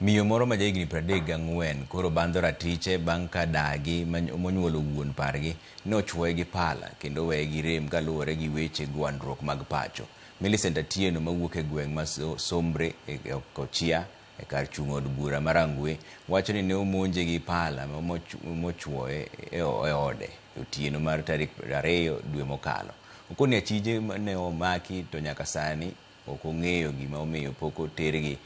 Miyo moro ma jahigni pradek gang'wen koro bandho ratiche bang' ka dagi monyuolo wuon pargi ni ochwoye gi pala kendo oweye gi rem kaluwore gi weche gwandruok mag pacho. Millicent Atieno mawuok e gweng' ma Sombre e Kochia e kar chung' od bura ma Rangwe wacho ni ne omonje gi pala mochwoye e ode e otieno mar tarik ariyo dwe mokalo. Okoni achije ne omaki to nyaka sani Ok ong'eyo gima omiyo pok otergi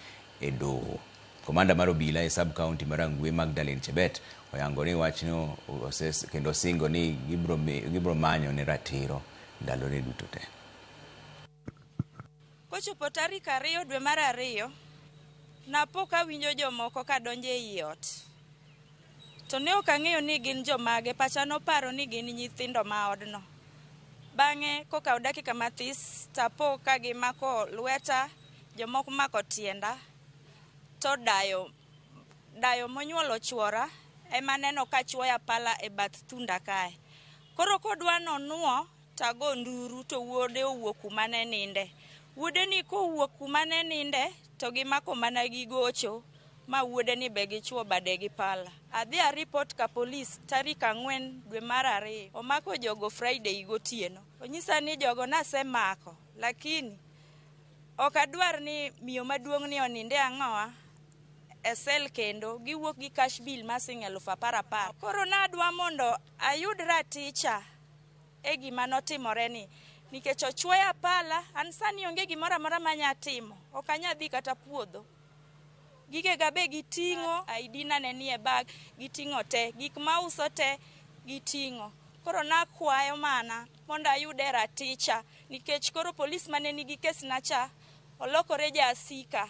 e doho. Komanda mar obila e sub county ma Rangwe Magdalene Chebet oyango ni wachno oses kendo osingo ni gibro mi- gibro manyo ne ratiro ndalone duto te. Kochopo tarik ariyo dwe mar ariyo, napo kawinjo jomoko kadonjo ei ot. To ne ok ang'eyo ni gin jomage. Pacha noparo ni gin nyithindo ma odno. Bang'e kokawo dakika mathis to apo ka gimako lweta, jomoko mako tienda, to dayo dayo monyuolo chwora ema aneno ka chuoya pala e bath thunda kae. Koro kodwa nonwo Tago nduru to wuode owuok kuma ne ninde. Wuodeni kowuok kuma ne ninde to gimako mana gi gocho ma wuodeni be gichuo bade gi pala. Adhi aripot ka polis tarik ang'wen dwe mar ariyo. Omako jogo Friday gotieno. Onyisa ni jogo nasemako lakini ok adwar ni miyo maduong'ni oninde ang'owa e sel kendo. Giwuok gi cash bill ma sing' eluf apar apar. Koro nadwa mondo ayud raticha. e gima notimoreni. Nikech ochwoya pala, an sani onge gimoro amora manya timo. Ok anya dhi kata puodho. Gigega be giting'o, ID na ne nie bag, giting'o te. Gik ma auso te giting'o. Koro nakwayo mana mondo ayude raticha nikech koro polis mane nigi kesna cha olokore ja asika.